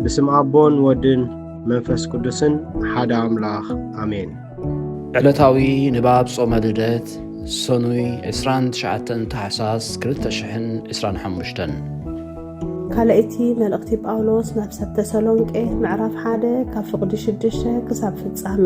ብስም ኣቦን ወድን መንፈስ ቅዱስን ሓደ ኣምላኽ ኣሜን። ዕለታዊ ንባብ ጾመ ልደት ሰኑይ 29 ታሕሳስ 225 ካልኣይቲ መልእኽቲ ጳውሎስ ናብ ሰብ ተሰሎንቄ ምዕራፍ ሓደ ካብ ፍቕዲ ሽዱሽተ ክሳብ ፍጻሜ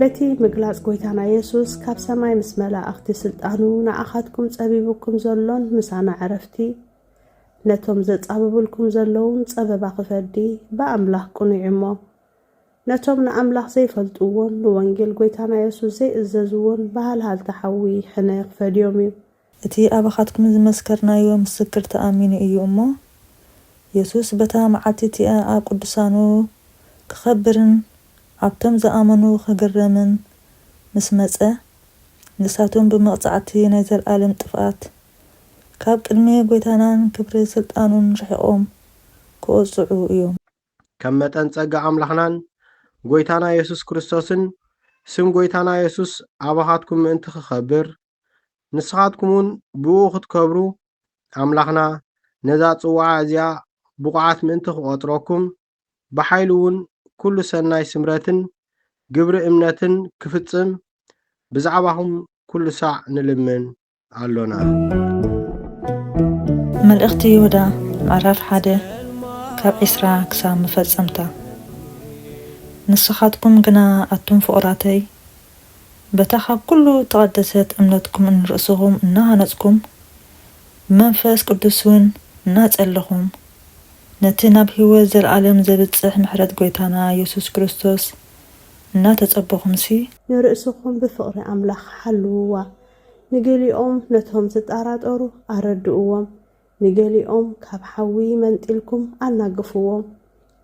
በቲ ምግላጽ ጎይታና የሱስ ካብ ሰማይ ምስ መላእኽቲ ስልጣኑ ንኣኻትኩም ጸቢቡኩም ዘሎን ምሳና ዕረፍቲ ነቶም ዘጻብብልኩም ዘለዉን ጸበባ ክፈዲ ብኣምላኽ ቅኑዕ እሞ ነቶም ንኣምላኽ ዘይፈልጥዎን ንወንጌል ጎይታና የሱስ ዘይእዘዝዎን ብሃልሃልታ ሓዊ ሕነ ክፈድዮም እዩ። እቲ ኣባኻትኩም ዝመስከርናዮ ምስክር ተኣሚኑ እዩ እሞ፣ የሱስ በታ መዓልቲ እቲኣ ኣብ ቅዱሳኑ ክኸብርን ኣብቶም ዝኣመኑ ክግረምን ምስ መጸ፣ ንሳቶም ብመቕጻዕቲ ናይ ዘለኣለም ጥፍኣት ካብ ቅድሚ ጐይታናን ክብሪ ስልጣኑን ርሒቖም ክወጽዑ እዮም። ከም መጠን ጸጋ ኣምላኽናን ጐይታና የሱስ ክርስቶስን፣ ስም ጐይታና የሱስ ኣባኻትኩም ምእንቲ ክኸብር፣ ንስኻትኩም እውን ብእኡ ክትከብሩ ኣምላኽና ነዛ ጽዋዓ እዚኣ ብቑዓት ምእንቲ ክቖጽረኩም ብሓይሉ እውን ኩሉ ሰናይ ስምረትን ግብሪ እምነትን ክፍጽም ብዛዕባኹም ኩሉ ሳዕ ንልምን ኣሎና። መልእኽቲ ይሁዳ ምዕራፍ ሓደ ካብ ዕስራ ክሳብ መፈጸምታ ንስኻትኩም ግና ኣቱም ፍቑራተይ በታ ኻብ ኵሉ እተቐደሰት እምነትኩም ንርእስኹም እናሃነጽኩም፣ ብመንፈስ ቅዱስውን እናጸለኹም፣ ነቲ ናብ ህይወት ዘለኣለም ዜብጽሕ ምሕረት ጐይታና የሱስ ክርስቶስ እናተጸበኹምሲ፣ ንርእስኹም ብፍቕሪ ኣምላኽ ሓልውዋ። ንገሊኦም ነቶም ዚጠራጠሩ ኣረድእዎም፣ ንገሊኦም ካብ ሓዊ መንጢልኩም ኣናግፍዎም፣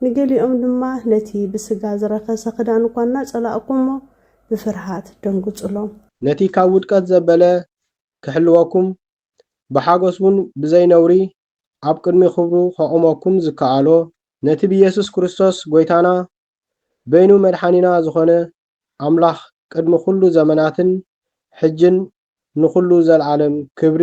ንገሊኦም ድማ ነቲ ብስጋ ዝረኸሰ ክዳን እኳ እናጸላእኩሞ ብፍርሃት ደንግጹሎም። ነቲ ካብ ውድቀት ዘበለ ክሕልወኩም፣ ብሓጐስ ውን ብዘይ ነውሪ ኣብ ቅድሚ ክብሩ ከቑመኩም ዝከኣሎ፣ ነቲ ብየሱስ ክርስቶስ ጐይታና በይኑ መድሓኒና ዝኾነ ኣምላኽ ቅድሚ ኩሉ ዘመናትን ሕጅን ንኹሉ ዘልኣለም ክብሪ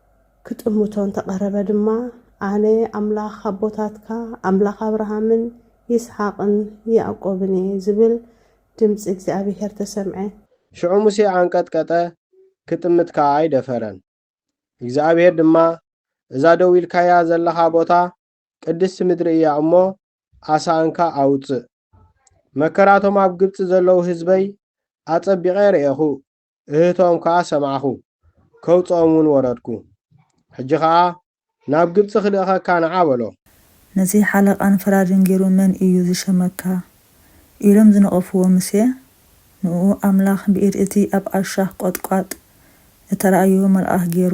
ክጥምቶ እንተ ቐረበ ድማ፣ ኣነ ኣምላኽ ኣቦታትካ፣ ኣምላኽ ኣብርሃምን ይስሓቕን ያእቆብን እየ ዝብል ድምጺ እግዚኣብሄር ተሰምዐ። ሽዑ ሙሴ ኣንቀጥቀጠ፣ ክጥምት ከኣ ኣይደፈረን። እግዚኣብሄር ድማ፣ እዛ ደው ኢልካያ ዘለኻ ቦታ፣ ቅድስቲ ምድሪ እያ እሞ፣ ኣሳእንካ ኣውጽእ። መከራቶም ኣብ ግብጺ ዘለዉ ህዝበይ ኣጸቢቐ ርኤኹ፣ እህቶም ከኣ ሰማዕኩ፣ ከውጽኦምውን ወረድኩ። ሕጂ ኸኣ ናብ ግብጺ ክልእኸካ ንዓ በሎ። ነዚ ሓለቓን ፈራድን ገይሩ መን እዩ ዝሸመካ? ኢሎም ዝነቐፍዎ ሙሴ፣ ንእኡ ኣምላኽ ብኢድ እቲ ኣብ ኣሻኽ ቈጥቋጥ እተራእዮ መልኣኽ ገይሩ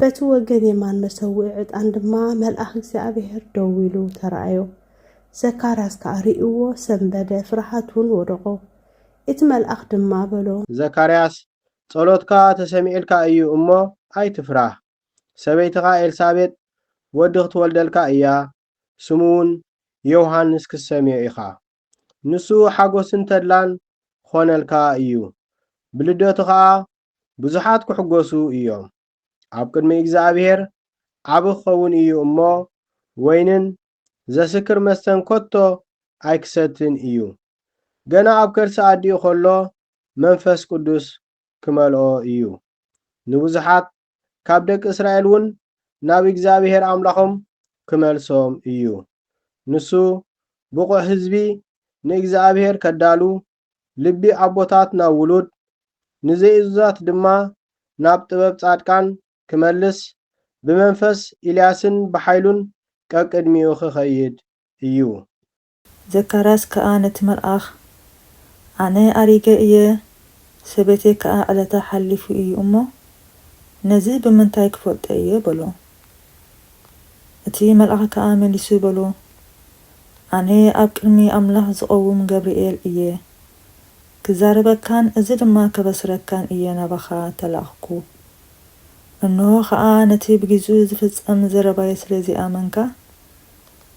በቲ ወገን የማን መሰውኢ ዕጣን ድማ መልኣኽ እግዚኣብሔር ደው ኢሉ ተራእዮ። ዘካርያስ ከኣ ርእይዎ ሰንበደ፣ ፍርሃት እውን ወደቖ። እቲ መልኣኽ ድማ በሎ። ዘካርያስ፣ ጸሎትካ ተሰሚዑልካ እዩ እሞ፣ ኣይትፍራህ። ሰበይትኻ ኤልሳቤጥ ወዲ ክትወልደልካ እያ፣ ስሙ እውን ዮውሃንስ ክትሰምዮ ኢኻ። ንሱ ሓጎስን ተድላን ክኾነልካ እዩ፣ ብልደቱ ኸኣ ብዙሓት ክሕጎሱ እዮም። ኣብ ቅድሚ እግዚኣብሄር ዓቢ ክኸውን እዩ እሞ፣ ወይንን ዘስክር መስተን ከቶ ኣይክሰትን እዩ። ገና ኣብ ከርሲ ኣዲኡ ከሎ መንፈስ ቅዱስ ክመልኦ እዩ። ንብዙሓት ካብ ደቂ እስራኤል እውን ናብ እግዚኣብሄር ኣምላኾም ክመልሶም እዩ። ንሱ ብቑዕ ህዝቢ ንእግዚኣብሄር ከዳሉ፣ ልቢ ኣቦታት ናብ ውሉድ፣ ንዘይእዙዛት ድማ ናብ ጥበብ ጻድቃን ክመልስ ብመንፈስ ኢልያስን ብሓይሉን ቀቅድሚኡ ክኸይድ እዩ። ዘካርያስ ከኣ ነቲ መልኣኽ፣ ኣነ ኣሪገ እየ፣ ሰበይተይ ከኣ ዕለታ ሓሊፉ እዩ እሞ፣ ነዚ ብምንታይ ክፈልጦ እየ? በሎ። እቲ መልኣኽ ከኣ መሊሱ በሉ፣ ኣነ ኣብ ቅድሚ ኣምላኽ ዝቐውም ገብርኤል እየ፣ ክዛረበካን እዚ ድማ ከበስረካን እየ ናባኻ እተላእኽኩ። እንሆ ኸኣ ነቲ ብጊዝኡ ዝፍጸም ዘረባይ ስለ ዘይኣመንካ፣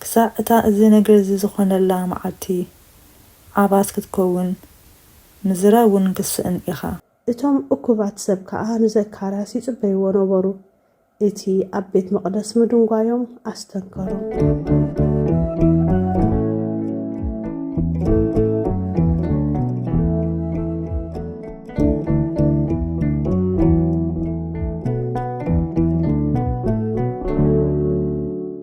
ክሳዕ እታ እዚ ነገር እዚ ዝዀነላ መዓልቲ ዓባስ ክትከውን ምዝራብ ውን ክትስእን ኢኻ። እቶም እኩባት ሰብ ከኣ ንዘካርያስ ይጽበይዎ ነበሩ፣ እቲ ኣብ ቤት መቕደስ ምድንጓዮም ኣስተንከሮም።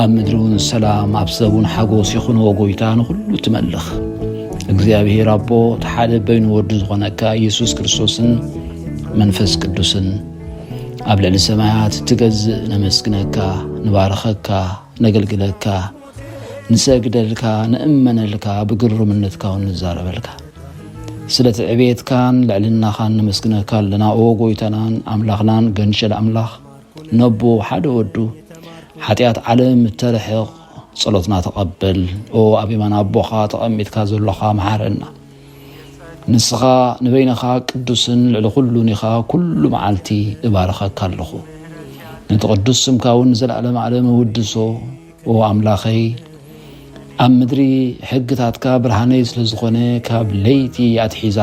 ኣብ ምድሪውን ሰላም ኣብ ሰቡን ሓጎስ ይኹንዎ ጎይታ ንኹሉ ትመልኽ እግዚኣብሔር ኣቦ ተሓደ በይኑ ወዱ ዝኾነካ ኢየሱስ ክርስቶስን መንፈስ ቅዱስን ኣብ ልዕሊ ሰማያት እትገዝእ ነመስግነካ ንባርኸካ ነገልግለካ ንሰግደልካ ንእመነልካ ብግሩምነትካ ውን ንዛረበልካ ስለቲ ዕቤትካን ልዕልናኻን ነመስግነካ ኣለና ኦ ጎይታናን ኣምላኽናን ገንሸል ኣምላኽ ነቦ ሓደ ወዱ ሓጢኣት ዓለም እተርሕቕ ጸሎትና ተቐበል ኦ ኣብ የማን ኣቦኻ ተቐሚጥካ ዘሎኻ መሓረና ንስኻ ንበይንኻ ቅዱስን ልዕሊ ኩሉን ኢኻ ኩሉ መዓልቲ እባርኸካ ኣለኹ ነቲ ቅዱስ ስምካ እውን ንዘለኣለም ኣለም እውድሶ ኦ ኣምላኸይ ኣብ ምድሪ ሕግታትካ ብርሃነይ ስለ ዝኾነ ካብ ለይቲ ኣትሒዛ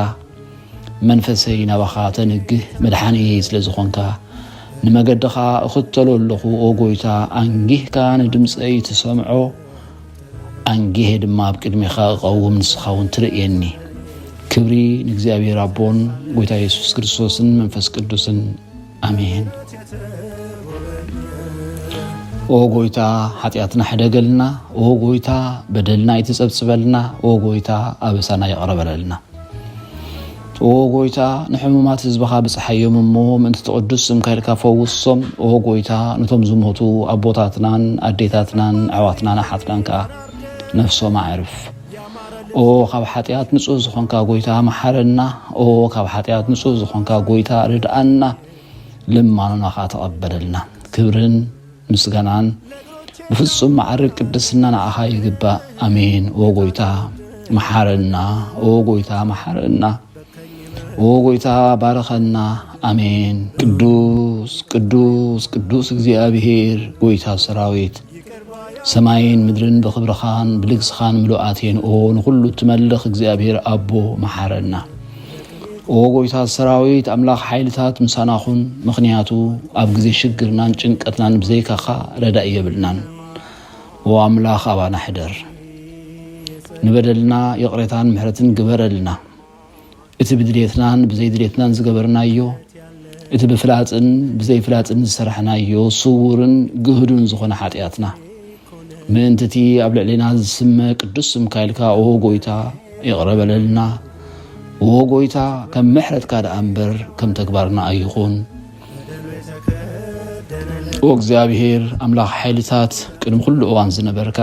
መንፈሰይ ናባኻ ተንግህ መድሓኒየይ ስለ ዝኾንካ ንመገድኻ እኽተሎ ኣለኹ ኦ ጎይታ ኣንጊህካ ንድምፀይ ትሰምዖ ኣንጊሄ ድማ ኣብ ቅድሜኻ እቐውም ንስኻ እውን ትርእየኒ ክብሪ ንእግዚኣብሔር ኣቦን ጎይታ የሱስ ክርስቶስን መንፈስ ቅዱስን ኣሜን ኦ ጎይታ ሓጢኣትና ሕደገልና ኦ ጎይታ በደልና ኣይትጸብጽበልና ኦ ጎይታ ኣበሳና ይቕረ በለልና ኦ ጎይታ ንሕሙማት ህዝብኻ ብፅሓዮም እሞ ምእንቲ ትቕዱስ ስምካ ኢልካ ፈውሶም ኦ ጎይታ ነቶም ዝሞቱ ኣቦታትናን ኣዴታትናን ኣሕዋትናን ኣሓትናን ከዓ ነፍሶም ኣዕርፍ ኦ ካብ ሓጥያት ንጹህ ዝኾንካ ጎይታ መሓረና ኦ ካብ ሓጥያት ንጹህ ዝኾንካ ጎይታ ርድኣና ልማኖና ከኣ ተቐበለልና ክብርን ምስጋናን ብፍጹም መዓርግ ቅድስና ንዓኻ ይግባእ ኣሜን ኦ ጎይታ መሓረና ኦ ጎይታ መሓረና ኦ ጎይታ ባርኸና ኣሜን። ቅዱስ ቅዱስ ቅዱስ እግዚኣብሔር ጎይታ ሰራዊት ሰማይን ምድርን ብኽብርኻን ብልግስኻን ምሉኣት እየን። ኦ ንኹሉ እትመልኽ እግዚኣብሔር ኣቦ መሓረና። ኦ ጎይታ ሰራዊት ኣምላኽ ሓይልታት ምሳና ኹን፣ ምኽንያቱ ኣብ ግዜ ሽግርናን ጭንቀትናን ብዘይካኻ ረዳኢ የብልናን። ኦ ኣምላኽ ኣባና ሕደር፣ ንበደልና ይቕሬታን ምሕረትን ግበረልና። እቲ ብድሌትናን ብዘይድሌትናን ዝገበርናዮ፣ እቲ ብፍላጥን ብዘይፍላጥን ዝሰራሕናዮ ስዉርን ግህዱን ዝኾነ ሓጥያትና፣ ምእንቲ እቲ ኣብ ልዕሌና ዝስመ ቅዱስ ስምካ ኢልካ ኦ ጎይታ ይቕረ በለልና፣ ኦ ጎይታ ከም ምሕረትካ ደኣ እምበር ከም ተግባርና ኣይኹን። ኦ እግዚኣብሔር ኣምላኽ ሓይልታት ቅድሚ ኩሉ እዋን ዝነበርካ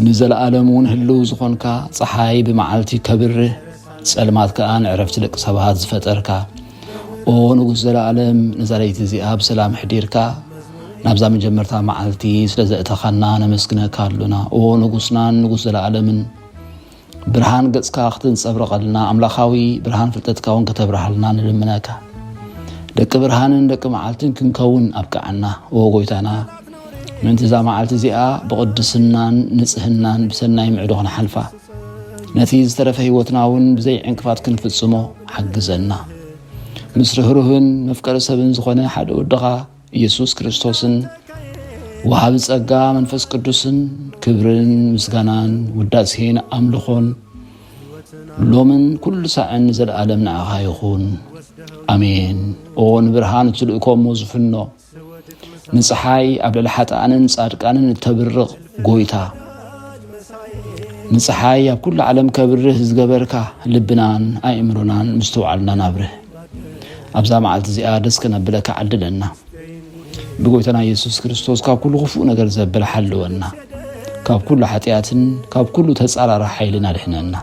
ንዘለኣለም እውን ህልው ዝኾንካ ፀሓይ ብመዓልቲ ከብርህ ጸልማት ከዓ ንዕረፍቲ ደቂ ሰባት ዝፈጠርካ ኦ ንጉስ ዘለኣለም ነዛ ለይቲ እዚኣ ብሰላም ሕዲርካ ናብዛ መጀመርታ መዓልቲ ስለ ዘእተኻና ነመስግነካ ኣሎና ኦ ንጉስናን ንጉስ ዘለኣለምን ብርሃን ገጽካ ክትንጸብረቐልና ኣምላኻዊ ብርሃን ፍልጠትካ እውን ከተብርሃልና ንልምነካ ደቂ ብርሃንን ደቂ መዓልትን ክንከውን ኣብቅዓና ኦ ጎይታና ምእንቲ እዛ መዓልቲ እዚኣ ብቕድስናን ንጽህናን ብሰናይ ምዕዶ ክንሓልፋ ነቲ ዝተረፈ ህይወትና እውን ብዘይ ዕንቅፋት ክንፍጽሞ ሓግዘና ምስ ርህሩህን መፍቀሪ ሰብን ዝኾነ ሓደ ወድኻ ኢየሱስ ክርስቶስን ወሃቢ ጸጋ መንፈስ ቅዱስን ክብርን ምስጋናን ውዳሴን ኣምልኾን ሎምን ኩሉ ሳዕን ዘለኣለም ንዓኻ ይኹን ኣሜን። ኦ ንብርሃን እትልእኮሞ ዝፍኖ ንፀሓይ ኣብ ልዕሊ ሓጥኣንን ጻድቃንን እተብርቕ ጎይታ ንፀሓይ ኣብ ኩሉ ዓለም ከብርህ ዝገበርካ ልብናን ኣእምሮናን ምስትውዓልናን ኣብርህ። ኣብዛ መዓልቲ እዚኣ ደስ ከነብለካ ዓድለና ብጎይታና የሱስ ክርስቶስ ካብ ኩሉ ክፉእ ነገር ዘብል ሓልወና ካብ ኩሉ ሓጢኣትን ካብ ኩሉ ተጻራሪ ሓይልን ኣድሕነና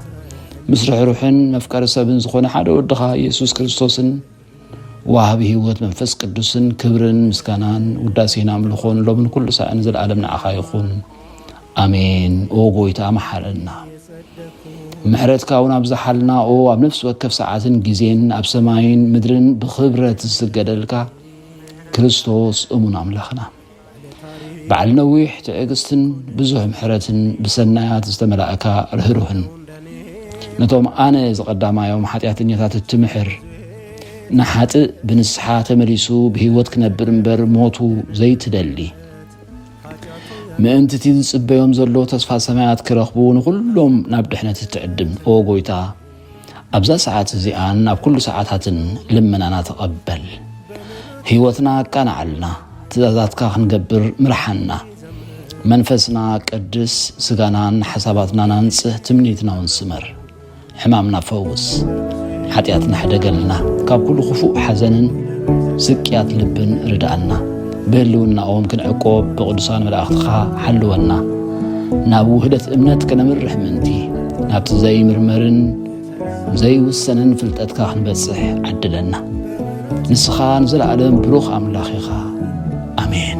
ምስ ርሕሩሕን መፍቀሪ ሰብን ዝኾነ ሓደ ወድኻ ኢየሱስ ክርስቶስን ዋሃቢ ህይወት መንፈስ ቅዱስን ክብርን ምስጋናን ውዳሴን ኣምልኾን ሎምን ኩሉ ሳዕን ዘለኣለም ንዓኻ ይኹን ኣሜን ኦ ጎይታ መሓረና ምሕረትካ እውን ኣብዝሓልና ኦ ኣብ ነፍሲ ወከፍ ሰዓትን ግዜን ኣብ ሰማይን ምድርን ብክብረት ዝስገደልካ ክርስቶስ እሙን ኣምላኽና በዓል ነዊሕ ትዕግስትን ብዙሕ ምሕረትን ብሰናያት ዝተመላእካ ርህሩህን ነቶም ኣነ ዝቐዳማዮም ሓጢኣተኛታት እትምሕር ንሓጥእ ብንስሓ ተመሊሱ ብህይወት ክነብር እምበር ሞቱ ዘይትደሊ ምእንቲ እቲ ዝጽበዮም ዘሎ ተስፋ ሰማያት ክረኽቡ ንዅሎም ናብ ድሕነት እትዕድም፣ ኦ ጐይታ፣ ኣብዛ ሰዓት እዚኣን ኣብ ኵሉ ሰዓታትን ልመናና ተቐበል። ህይወትና ኣቃንዓልና፣ ትእዛዛትካ ኽንገብር ምርሓና። መንፈስና ቀድስ፣ ስጋናን ሓሳባትናን ኣንጽህ፣ ትምኒትናውን ስመር። ሕማምና ፈውስ፣ ሓጢኣትና ሕደገልና፣ ካብ ኩሉ ክፉእ ሓዘንን ስቅያት ልብን ርድኣና፣ ብህልውናኦም ክንዕቆብ ብቕዱሳን መላእኽትኻ ሓልወና፣ ናብ ውህደት እምነት ከነምርሕ ምእንቲ ናብቲ ዘይምርመርን ዘይውሰንን ፍልጠትካ ክንበጽሕ ዓድለና። ንስኻ ንዘለኣለም ብሩኽ ኣምላኽ ኢኻ። ኣሜን።